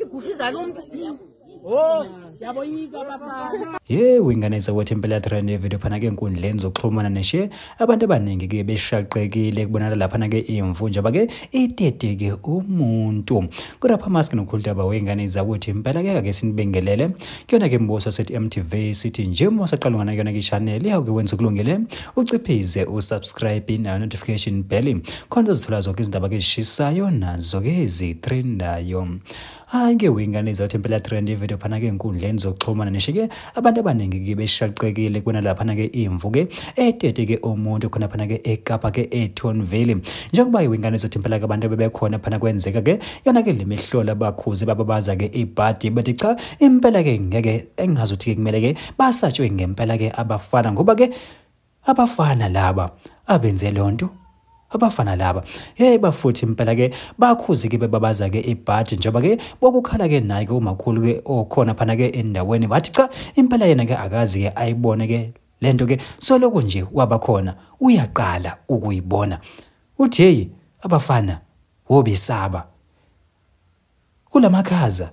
igusha izala umuntu Oh, yaboyika bafana. Ye wingane zakwethu impela trend yevideo phana ke enkundleni zokuxhumana neshe abantu abaningi ke beshaqekile kubonakala lapha na ke imvu nje bake iteteke umuntu. Kodwa pha mask nokhulta ba wengane zakwethu impela ke ake sinibengelele kuyona ke mbuso sethi MTV sithi nje uma usaqala ngana kuyona ke channel yawuke wenza kulungile uciphize usubscribe na notification bell khona uzithola zonke izindaba ke zishisayo nazo ke ezitrendayo hayi ke wingane zathi impela trend yevideo phana ke enkundleni zokuxhumana nisho ke abantu abaningi ke beshaqekile kuna laphana ke imvu ke etete ke umuntu khona phana ke ekapa ke eTonville njengoba iwingane zathi impela ke abantu bebekhona phana kwenzeka ke yona ke lemihlola bakhuze bababaza ke ibhadi bathi cha impela ke ngeke engazuthi ke kumele ke basatshwe ngempela ke abafana ngoba ke abafana laba abenze lonto abafana laba hey bafuthi impela ke bakhuzi ke bebabaza ke ibhaji njengoba ke bokukhala ke naye ke umakhulu ke okhona phana ke endaweni bathi cha impela yena ke akazi ke ayibone ke lento ke soloko nje wabakhona uyaqala ukuyibona uthi hey abafana wobesaba kulamakhaza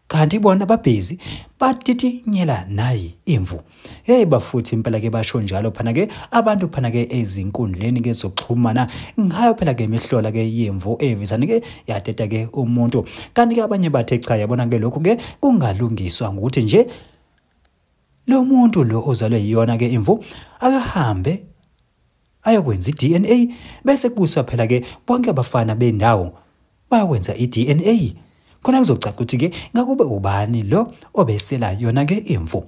kanti bona babhizi batitinyela nayi imvu hey bafuthi impela ke basho njalo phana ke abantu phana ke ezinkundleni ke zokuxhumana ngayo phela ke imihlola ke yemvu evisani ke yateta ke umuntu kanti ke abanye bathe cha yabona ke lokho ke kungalungiswa ngokuthi nje lo muntu lo ozalwe yiyona ke imvu akahambe ayokwenza i-DNA bese kubuswa phela ke bonke abafana bendawo bayokwenza i-DNA khona kuzocaca ukuthi ke ngakube ubani lo obesela yona ke imvu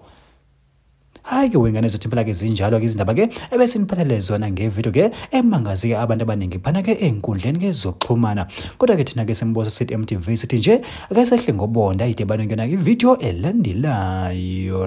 hayi ke wengane zothi phela ke zinjalo ke izindaba ke ebese niphathele zona ngevideo ke emangazi ke abantu abaningi phana ke enkundleni ke zokuxhumana kodwa ke thina ke sembozo sithi MTV sithi nje ake sehle ngobonda idebane kuyona ivideo elandelayo